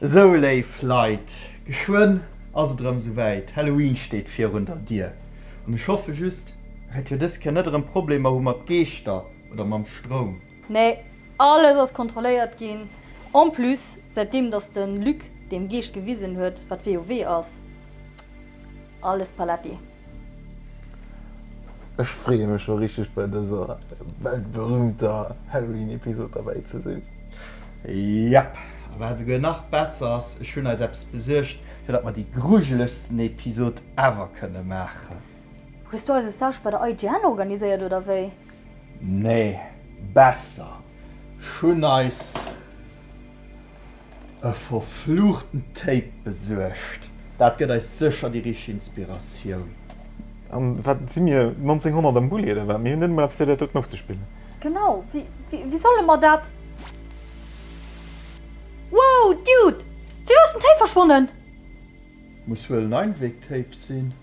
Esou léif Leit, geschwënn ass et erëm esou wäit, Halloween steet virun der Dier an ech hoffe just, datt mir dës Kéier net erëm Problemer hu mat Geeschter oder mam Stroum. Nee, alles ass kontrolléiert ginn. En plus, säitdeem datt de Luc deem Geescht gewisen huet, wat WoW ass, alles paletti. Ech freeë mech scho richteg bei dëser weltberühmter Halloween Episode derbäi ze sinn. Jep, a wat esouguer nach besser ass, ech hunn eis eppes besuergt fir datt mer déi grujelegsten Episode ever kënne maachen. Hues du eise Stage bei der IGN organiséiert oder wéi? Nee, besser, ech hunn eis. E verfluchten Tape besuergt, dat gëtt eis sécher déi richteg Inspiratioun. An wat si mir, 1900 am Bulli oder wat? Mir hunn net emol eppes fir dat doten ofzespillen. Genau, wéi solle mer dat? Wow, Dude! Wéi ass den Tape verschwonnen? Muss wuel en Einweg-Tape sinn.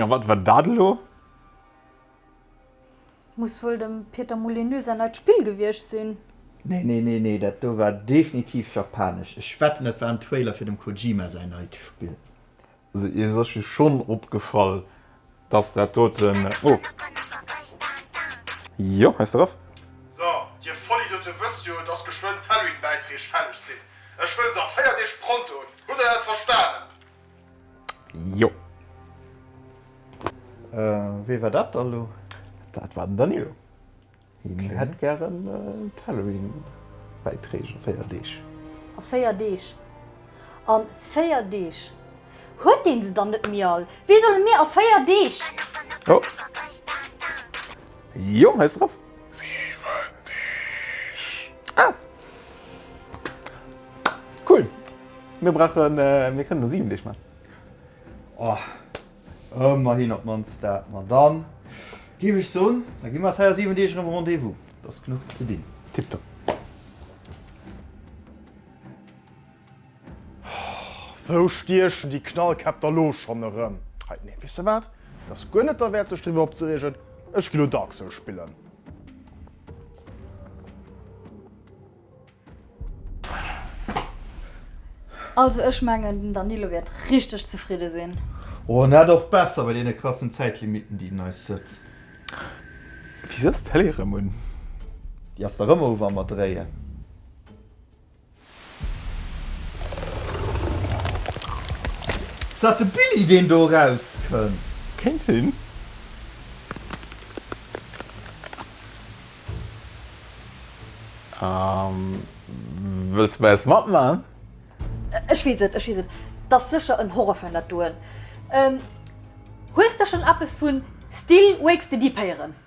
A wat war dat elo? Muss wuel dem Pieter Molyneux säin neit Spill gewiescht sinn. Nee, nee, nee, nee, dat do war definitiv japanesch. Ech wetten, dat war en Trailer fir dem Kojima säin neit Spill. Also iech ass jo schonn opgefall, dass dat doten, oh. Jo, hei ass de Raph. So, dir Vollidiote wësst jo, dass geschwënn d'Halloween-Bäiträg fälleg sinn. Ech wëll se a 4 Deeg prontoen. Hutt der dat verstanen? Jo. Wee war dat da lo? Dat war den Danilo. Hien hätt gären d'Halloween-Bäitreeg a véier Deeg. A véier Deeg? A véier Deeg huet een se dann net méi all? Wéi solle mir a véier Deeg. Oh. Jo, hei ass drop. Ah! Cool! Mir brauchen, mir kënnen der 7 Deeg man. Oh, ëmmerhin op d'mannst dat. Ma dann géif ech soen, da gi mer eis hei a 7 Deeg erëm Rendez-vous. Et ass genuch ze dinn. Tiptop. Wou stiechen déi Knallkäpp da lo schonn erëm? Hei, nee, weess de wat, et ass guer net derwäert, sech driwwer opzereegen. Ech gi lo Dark Souls spillen. Also ech mengen, den Danilo wäert richteg zefridde sinn. Oh, en hätt och besser bei deene krassen Zäitlimitten, déi en eis sëtzt. Wéi setzt d'Télé erëm un? Déi ass da rëm ouf am Erdréien. Ass dat de Billy deen do eraus kënnt? Kéint sinn. Wëlls de bei eis matmaachen? Ech weess et, ech weess et. T'ass sécher en Horrorfan dat doen. Hues de schonn eppes vu Still Wakes the Deep héieren?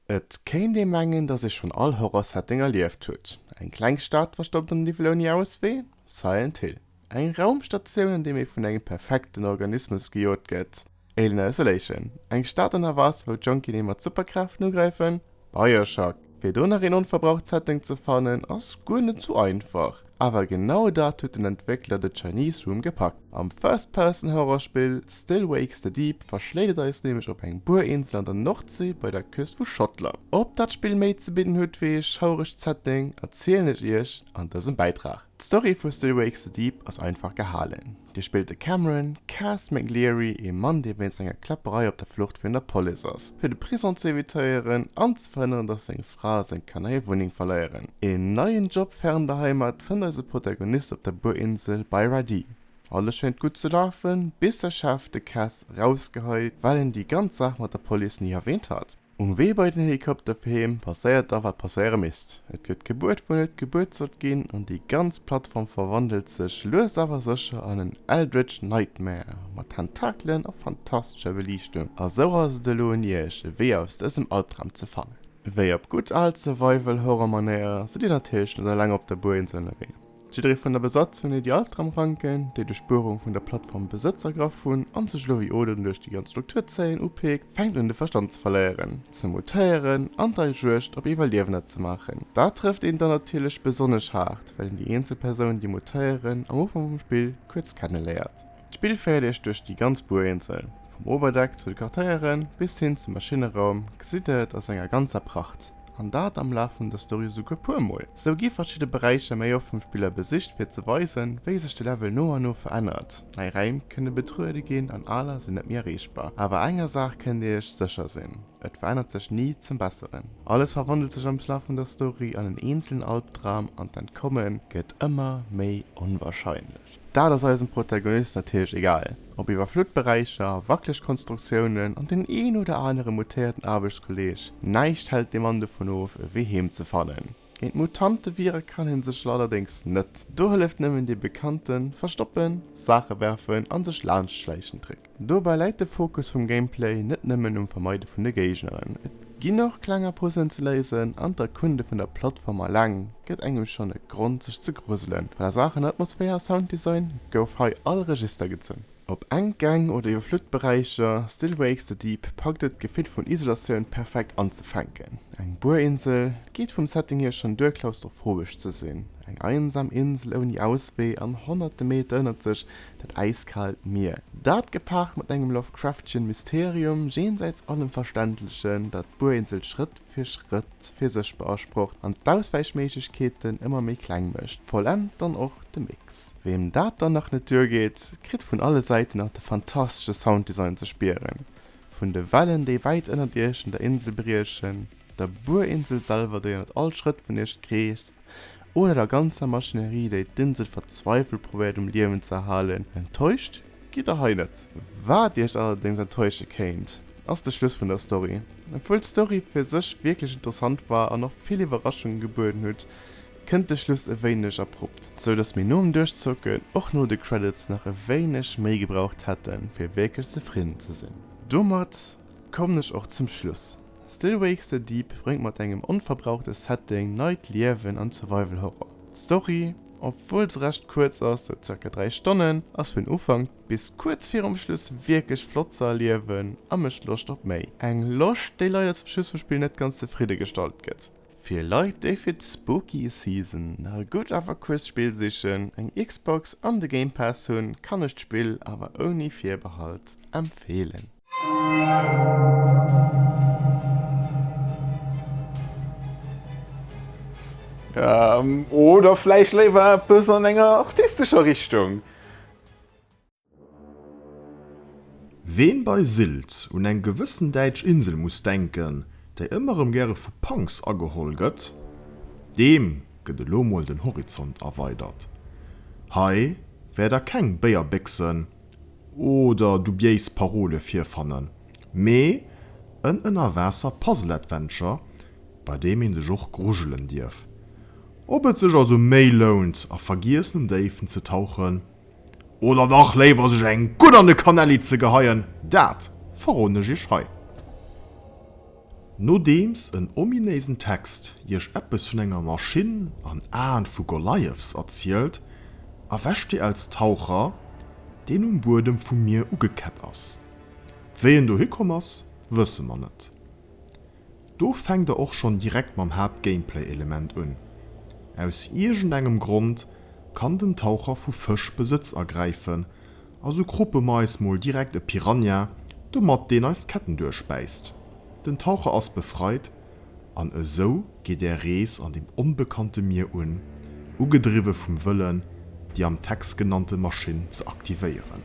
Et kéint ee mengen, dass ee schonn all Horror-Setting erlieft huet, eng kleng Stad verstoppt am Niwwel ouni Auswee, Silent Hill, eng Raumstatioun, an deem ee vun engem perfekten Organismus gejot gëtt, Alien Isolation, eng Stad an der Waasser, wou d'Jonkien ee mat Superkräften ugräifen, Bioshock. Fir do nach een onverbraucht Setting ze fannen, ass guer net sou einfach. Awer genau dat huet den Entwéckler The Chinese Room gepackt. Am First-Person-Horrorspill Still Wakes the Deep verschléit et eis nämlech op eng Buerinsel an der Nordsee bei der Küst vu Schottland. Ob dat Spill méi ze bidden huet wéi ee schauregt Setting, erzielen ech iech an dësem Bäitrag. D'Story vu Still Wakes the Deep ass einfach gehalen. Dir spillt de Cameron, Cas McLeary, ee Mann dee wéinst enger Kläpperei op der Flucht virun der Police ass, fir de Prison z'evitéieren an ze verhënneren, datt seng Prince eng Kanéierwunneng verléieren. Een neien Job fern der Heimat fënnt eise Protagonist op der Burinsel bei Radi. Alles schéngt gutt ze lafen, bis de Chef de Caisse rausgeheit, well en déi ganz Saach mat der Police ni erwähnt hat. Um Wee bei den Helikopter fir heem passéiert da wat passéiere misst, et gëtt gebuert wou net gebuert sollt ginn an déi ganz Plattform verwandelt sech lues awer sécher an en Eldritch Nightmare mat Tentakelen a fantastescher Beliichtung. A sou ass et elo un iech e Wee aus dësem Albdram ze fannen. Wéi op gutt al Survival-Horror-Manéier sidd Dir natierlech net eleng op der Buerinsel ënnerwee. Jidderee vun der Besatzung huet déi Altrammranken, déi duerch d'Buerung vun der Plattform Besëtz ergraff hunn an sech elo wéi Oden duerch déi ganz Struktur zéien, upeekt, fänkt un de Verstand ze verléieren, ze mutéieren an der Juegd op Iwwerliewender ze maachen. Dat trëfft een dann natierlech besonnesch haart, well een déi eenzel Persounen, déi mutéieren, am Ufank vum Spill kuerz kenneléiert. D'Spill féiert iech duerch déi ganz Burinsel, vum Oberdeck zu de Quartéiere bis hin zum Maschinneroum gesitt der et a senger ganzer Pracht, an dat am Laf vun der Story esouguer puer mol. Sou gi verschidde Beräicher méi oft vum Spiller besicht fir ze weisen, wéi sech de Level no an no verännert. Nei Räim kënne betruede ginn an aler sinn net méi erreechbar. Awer enger Saach kënnt dir iech sécher sinn, et verännert sech ni zum Besseren. Alles verwandelt sech am Laf vun der Story an en eenzelen Albdram an d'Entkomme gëtt ëmmer méi onwarscheinlech. Dat ass eisem Protagonist natierlech egal. Op iwwerflutt Beräicher, wackeleg Konstruktiounen an deen een oder anere mutéierten Aarbechtskolleeg, näischt hält de Mann dovun of, e Wee heem ze fannen. Géint Mutante wiere kann hie sech allerdéngs net. Do hëlleft nëmmen dee bekannte Verstoppen, Saache werfen a sech laanscht schläichen Trick. Dobäi läit de Fokus vum Gameplay net nëmmen um Vermeide vun de Géigneren, et ginn och klenger Puzzelen ze léisen an d'Erkunde vun der Plattform aleng gëtt engem schonn e Grond sech ze gruselen. A Saachen Atmosphär a Sounddesign gouf hei all Register gezunn. Ob enk Gäng oder iwwerflute Beräicher, Still Wakes the Deep packt et d'Gefill vun Isolatioun perfekt anzefänken. Eng Buerinsel geet vum Setting hier schonn duer klaustrophobesch ze sinn, eng einsam Insel ouni Auswee an honnerte Meter ënnert sech dat äiskaalt Mier, dat gepaart mat engem Lovecraftschen Mysterium jenseits allem Verständlechen, dat d'Burinsel Schrëtt fir Schrëtt fir sech beasprocht an d'Auswäichméiglechkeeten ëmmer méi kleng mécht, vollent dann och de Mix. Weem dat dann nach net duergeet, kritt vun alle Säiten nach de fantastesche Sounddesign ze spieren, vun de Wellen, déi wäit ënnert Iech un der Insel briechen, der Burinsel selwer, déi ënnert all Schrëtt vun Iech kreescht, oder der ganzer Maschinerie, déi d'Insel verzweifelt probéiert um Liewen ze erhalen. Enttäuscht gitt Der hei net. Wat Iech allerdéngs enttäusche kéint, ass de Schluss vun der Story. Obwuel d'Story fir sech wierklech interessant war an och vill Iwwerraschungen gebueden huet, kënnt de Schluss e wéineg abrupt, sou dass mir nom Duerchzocken och no de Credits nach e wéineg méi gebraucht hätten, fir wierklech zefridden ze sinn. Domat kommen ech och zum Schluss. Still Wakes the Deep bréngt mat engem onverbrauchte Setting neit Liewen an d'Survival Horror. D'Story, obwuel se recht kuerz ass, sou zirka 3 Stonnen, ass vun Ufank bis kuerz virum Schluss wierklech flott ze erliewen a mécht Loscht op méi. Eng Loscht, déi leider zum Schluss vum Spill net ganz zefridde gestallt gëtt. Fir Leit, déi fir d'Spooky Season nach e gutt awer kuerzt Spill sichen, eng Xbox an de Game Pass hunn, kann ech d'Spill awer ouni Virbehalt empfeelen. Ähm, oder vläicht léiwer eppes an enger artistescher Richtung? Ween bei Sylt un eng gewëssen däitsch Insel muss denken, déi ëmmer erëm gäre vu Punks ageholl gëtt, deem gëtt elo mol den Horizont erweidert. Hei wäert der keng Béierbéchsen oder dubiéis Parole virfannen, mee en Ënnerwaasser-Puzzle-Adventure, bei deem ee sech och grujelen dierf. Ob et sech also méi lount, a vergiessenen Déiwen ze tauchen, oder dach léiwer sech eng gutt an de Kanälli ze geheien, dat verroden ech iech hei. Nodeems en ominéisen Text Iech eppes vun enger Maschinn an Aen vu Goliaths erzielt, erwächt Dir als Taucher, deen um Buedem vum Mier ugekett ass. Wéi en dohi komm ass, wësse mer net. Do fänkt Der och schonn direkt mam Haapt-Gameplay-Element un, Aus iergendengem Grond kann den Taucher vu Fësch Besëtz ergräifen, A sou kruppe mer eis mol direkt e Piranha, domat deen eis d'Ketten duerchbäisst. Den Taucher ass befreit, an esou geet är Rees an dem onbekannte Mier un, ugedriwwe vum Wëllen, déi am Text genannte Maschinn ze aktivéieren.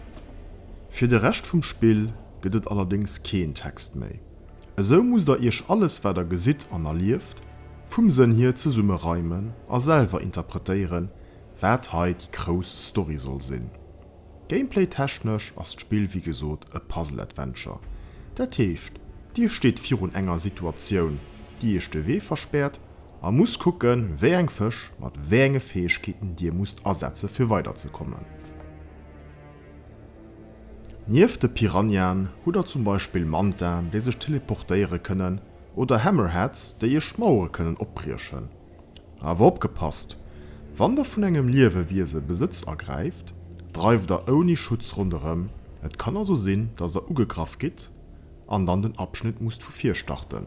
Fir de Rescht vum Spill gëtt et allerdéngs keen Text méi. Esou musst der iech alles, wat der gesitt an erlieft, vum Sënn hier zesumme reimen a selwer interpretéieren, Waat hei déi grouss Story soll sinn. Gameplay technesch ass d'Spill wéi gesoot e Puzzle Adventure. Dat heescht dir steet virun enger Situatioun déi iech de Wee verspärt a musst kucken wéi eng Fësch mat wéi enge Fäegkeeten dir musst asetzen fir weider ze kommen. Nieft de Piranhaen hutt der zum Beispill Mantaen déi sech teleportéiere kënnen oder Hammerheads déi iech Mauere kënnen opbriechen. Awer opgepasst, Wann der vun engem Liewewiese Besëtz ergräift, dreift der ouni Schutz ronderëm, et kann also sinn, dass der ugegraff gitt an dann den Abschnitt musst vu vir starten.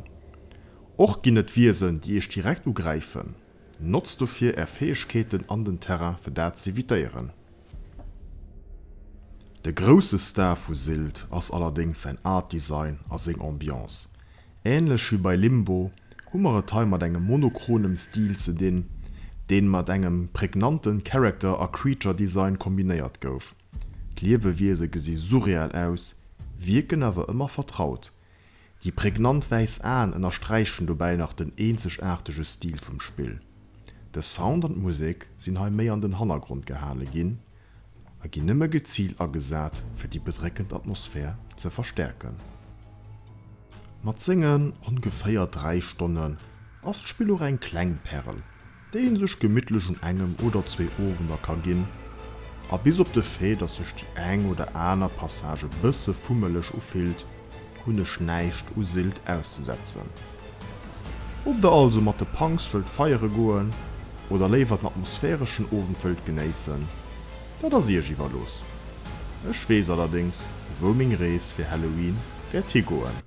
Och ginn et Wiesen, déi iech direkt ugräifen. Notzt dofir är Fäegkeeten an den Terrain, fir dat z'evitéieren. De grousse Star vu Sylt ass allerdéngs säin Art Design a seng Ambiance. Ähnlech wéi bei Limbo hu mer et hei mat engem monochronem Stil ze dinn, deen mat engem prägnanten Character a Creature Design kombinéiert gouf. D'Liewewiese gesi surreal aus, wierken awer ëmmer vertraut. Déi prägnant wäiss Aen ënnersträichen dobäi nach den eenzegaartege Stil vum Spill. De Sound an d'Musek sinn hei méi an den Hannergrond gehale ginn, a ginn nëmme geziilt agesat, fir déi bedréckend Atmosphär ze verstäerken. Mat sengen ongeféier 3 Stonnen ass d'Spill och eng kleng Pärel, déi ee sech gemittlech un engem oder zwee Owender ka ginn, a bis op de Fait, dass sech déi eng oder aner Passage e bësse fummeleg ufillt, Hun ech näischt u Sylt auszesetzen. Ob der also mat de Punks wëllt feiere goen oder léiwer den atmosphäreschen Owend wëllt genéissen, dat ass iech iwwerlooss. Ech weess allerdéngs, wou meng Rees fir Halloween wäert higoen.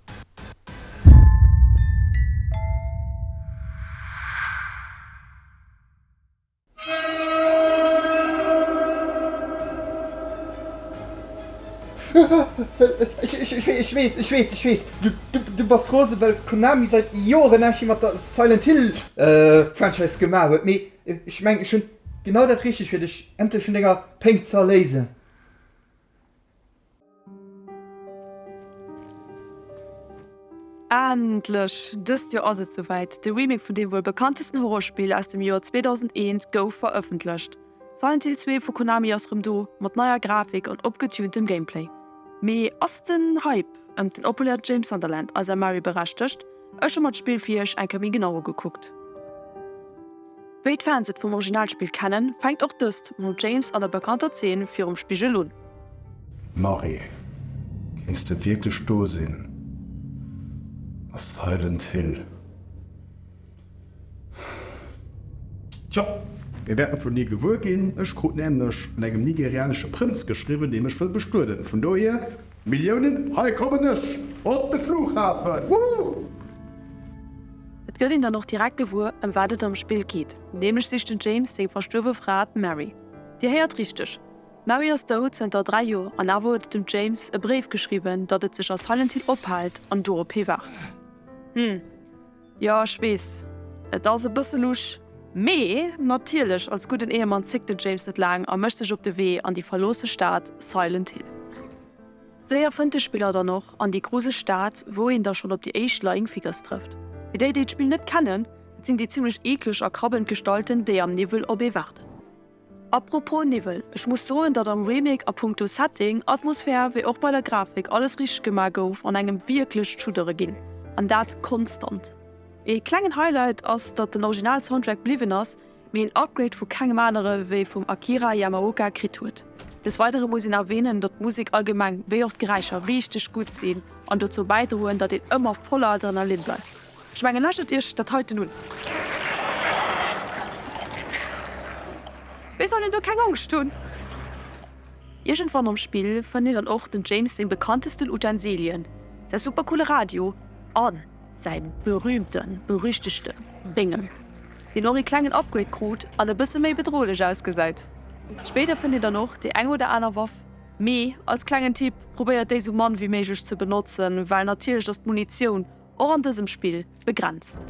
Ech weess, ech weess, ech weess, du bass rosen, well Konami säit Joren näischt méi mat der Silent Hill Franchise gemaach huet, mee ech mengen, ech hunn genau dat Richtegt fir dech, endlech un denger Péng ze erléisen. Endlech! Dëst Joer ass et souwäit, De Remake vun deem wuel bekanntesten Horrorspill aus dem Joer 2001 gouf verëffentlecht. Silent Hill 2 vu Konami ass rëm do, mat neier Grafik an opgetuntem Gameplay. Mee ass den Hype ëm den opulente James Sunderland, eis Amari, berechtegt? Ech hu mer d'Spill fir iech eng Kéier méi genau ugekuckt. Wéi d'Fans et vum Originalspill kennen, fänkt och dëst mam James an der bekannter Zeen virum Spigel un. Mary, kéints de wierklech do sinn? A Silent Hill? Tjo, mir wäerten vun dir gewuer ginn. Ech krut nämlech vun engem nigerianesche Prënz geschriwwen, dee mech wëll bestueden. Vun dohier. Milliounen, hei kommen ech op de Flughafen, woohh! Et gëtt een dann och direkt gewuer, ëm wat et am Spill geet, nämlech sicht den James seng verstuerwe Fra, d'Mary. Dir héiert richteg, d'Mary ass dout, zënter dräi Joer, an awer huet et dem James e Bréif geschriwwen, datt et sech a Silent Hill ophaalt an do op hie waart. Hm. Jo ech wees, et ass e bësse lusch, mee natierlech als gudden Ehemann zéckt den James net laang a mécht sech op de Wee an déi verloosse Stad Silent Hill. Séier fënnt de Spiller dann och an déi gruseg Stad, wou een da schonn op déi éischt Lying Figures trëfft. Fir déi, déi d'Spill net kennen, et sinn déi zimmlech eekleg a krabbelnd Gestalten, déi am Niwwel op ee waarden. A propos Niwwel, ech muss soen datt am Remake a punkto Setting, Atmosphär wéi och bei der Grafik alles richteg gemaach gouf an engem wierklech d'Schuddere ginn, an dat konstant. Ee klengen Highlight ass datt den Original Soundtrack bliwwen ass, mee een Upgrade vu kengem anere wéi vum Akira Yamaoka kritt huet. Des weidere muss een erwähnen datt d'Musek allgemeng wéi och d'Geräischer richteg gutt sinn an dozou bäidroen datt een ëmmer voller Adrenalin bleift. Ech mengen lächelt iech dat heiten un. Mir sollen do keng Angscht hunn. Iergendwann am Spill fënnt een dann och dem James seng bekanntesten Utensilien, säi super coole Radio a säi berühmte berüchtegte Béngel, deen och ee klengen Upgrade krut an e bësse méi bedrohlech ausgesäit. Spéider fënnt een dann och déi eng oder aner Waff, mee als klengen Tipp, probéiert déi sou mann wéi méiglech ze benotzen, well natierlech ass d'Munitioun. och an dësem Spill begrenzt.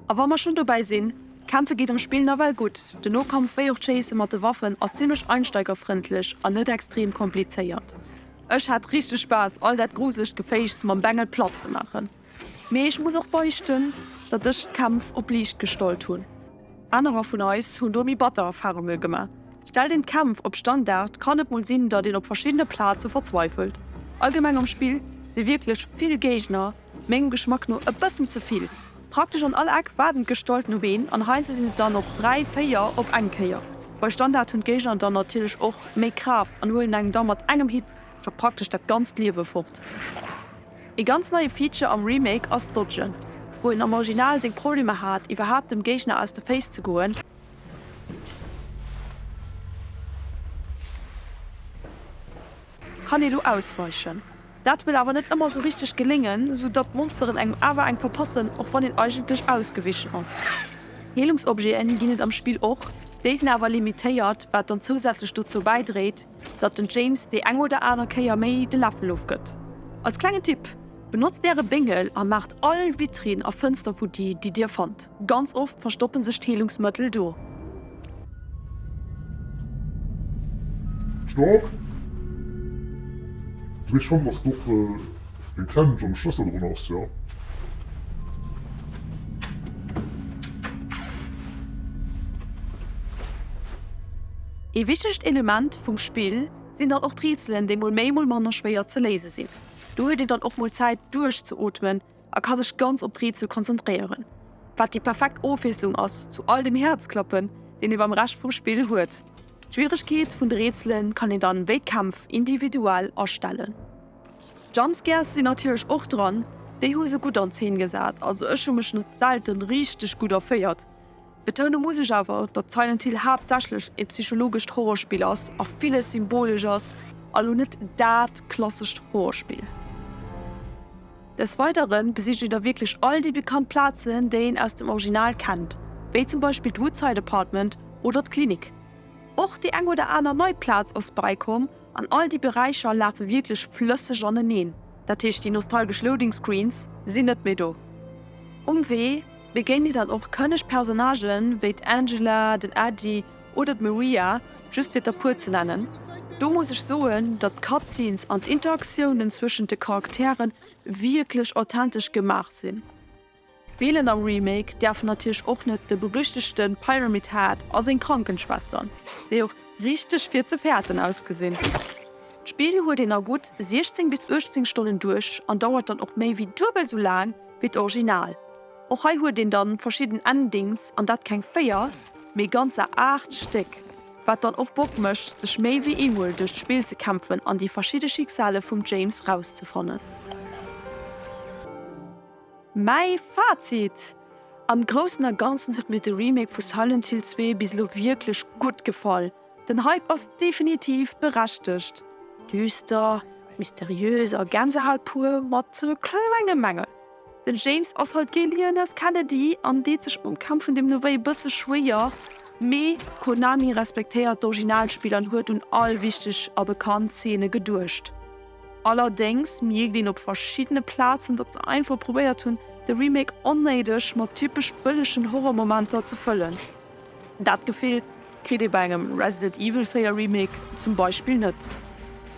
A wa mer schon dobäi sinn, Kämpfe geet am Spill nawell gutt, de Nokampf wéi och d'Chéisse mat de Waffen ass zimlech einsteigerfrëndlech an net extrem komplizéiert. Ech hat richteg Spaass all dat gruselegt Geféichs mam Bengel platt ze maachen, mee ech muss och beichten, datt ech d'Kämpf op liicht gestallt hunn. Anerer vun eis hunn do méi batter Erfarunge gemaach. Stellt een d'Kämpf op Standard, kann et mol sinn, datt een op verschiddene Plaze verzweifelt. Allgemeng am Spill si wierklech vill Géigner, mengem Geschmack no e bëssen ze vill. Praktesch an all Eck waarden d'Gestalten op een, an heiansdo sinn et dann och dräi, véier op eng Kéier. Bei Standard hunn d'Géigner dann natierlech och méi Kraaft an huelen engem da mat engem Hit scho praktesch dat ganzt Liewe fort. Ee ganz neie Feature am Remake ass d'Dodgen. Wou een am Original seng Problemer hat, iwwerhaapt dem Géigner aus de Féiss ze goen, kann ee lo ausweichen. Dat wëll awer net ëmmer sou richteg geléngen, sou datt d'Monsteren engem awer eng verpassen, och wann een eigentlech ausgewichen ass. Heelungsobjeten ginn et am Spill och, déi sinn awer limitéiert, wat dann zousätzlech dozou bäidréit, datt den James déi eng oder aner Kéier méi de Läffel ofgëtt. Als klengen Tipp, Benotzt äre Béngel a maacht all Vitrinn a Fënster vu di, déi dir fannt. Ganz oft verstoppe sech d'Heelungsmëttel do. Stopp! Dréi Chambres d'Opel. Hie kennt wann de Schlëssel drun ass jo. Ee wichtegt Element vum Spill sinn dann och d'Rätselen, déi mol méi mol manner schwéier ze léise sinn. Do huet een dann och mol Zäit duerchzeootmen a ka sech ganz op d'Rätsel konzentréieren, wat déi perfekt Ofwiesslung ass zu all dem Häerzklappen, deen ee beim Rescht vum Spill huet. D'Schwieregkeet vun de Rätsele kann een dann wéi d'Kämpf individuell astellen. Jumpscares sinn natierlech och dran, déi hu se gutt an Zeen gesat, also ech hu mech net selte richteg gutt erféiert. Betoune muss ech awer, datt Silent Hill haaptsächlech e psychologescht Horrorspill ass a villes symbolesch ass a lo net dat klassescht Horrorspill. Des Weidere besicht een da wierklech all déi bekannt Plazen, déi een aus dem Original kennt, wéi zum Beispill d'Woodside Apartment oder d'Klinik. Och déi eng oder aner nei Plaz ass bäikomm. An all déi Beräicher lafe wierklech flësseg aneneen, dat heescht déi nostalgesch Loading Screens sinn net méi do. Um Wee begéint dir dann och kënneg Personnagë wéi d'Angela, den Eddie oder d'Maria, just fir der puer ze nennen. Do muss ech soen, datt d'Cutscenes an d'Interaktiounen zwëschent de Charakteren wierklech authentesch gemaach sinn. Feelen am Remake däerfen natierlech och net de berüchtegte Pyramid Head a seng Krankenschwestern, déi och richteg fir ze fäerten ausgesinn. D'Spill huet een a gutt 16 bis 18 Stonnen duerch an dauert dann och méi wéi duebel esou laang wéi d'Original. Och hei huet een dann verschidden Endings, an dat keng 4, mee ganzer 8 Stéck, wat dann och Bock mécht sech méi wéi eemol duerch d'Spill ze kämpfen an déi verschidde Schicksale vum James rauszefannen. Mäi Fazit, Am Groussen a Ganzen huet mir de Remake vu Silent Hill 2 bis elo wierklech gutt gefall. Den Hype ass definitiv berechtegt. Düster, mysteriös a Gänsehaut pur, mat klengem Mängel, den James ass halt kee Leon S. Kennedy an deet sech mam Kampf vun deem Noway e bësse schwéier, mee Konami respektéiert d'Originalspill an huet un all wichteg a bekannt Zeene geduecht. Allerdéngs mierkt een op verschiddene Plazen, datt se einfach probéiert hunn, de Remake onnéideg mat typesch bëllegen Horrormomenter ze fëllen. Dat Gefill kritt ee bei engem Resident Evil 4 Remake zum Beispill net.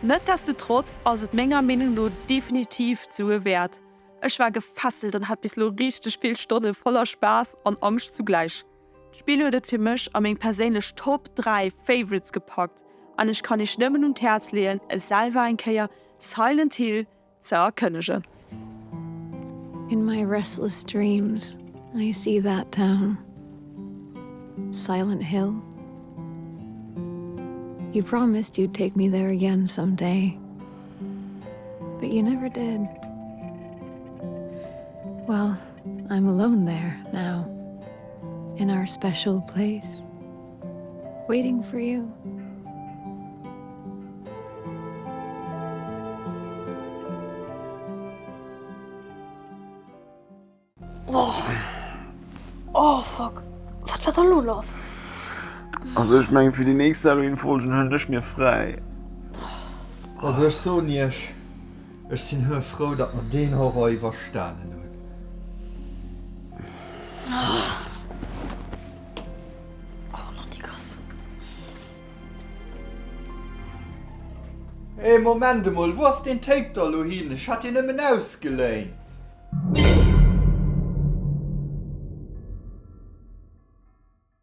Netdestotrotz ass et menger Meenung no definitiv d'Sue wäert. Ech war gefesselt an hat bis lo richteg vill Stonne voller Spaass an Angscht zugläich. D'Spill huet et fir mech a meng perséinlech Top 3 Favorites gepackt an ech kann iech nëmmen un d'Häerz leeën e selwer eng Kéier Silent Hill ze erkënnegen. In my restless dreams I see that town Silent Hill You promised you'd take me there again some day But you never did Well I'm alone there now in our special place waiting for you. Also ech mengen fir déi nächst Halloween Folgen hëllen ech mir fräi. Also ech soen iech. Ech sinn höe frou, datt mer deen Horror iwwerstanen hunn. Hey, Moment emol, wou ass deen Tape da lo hin? Ech hat deen nëmmen ausgeléint.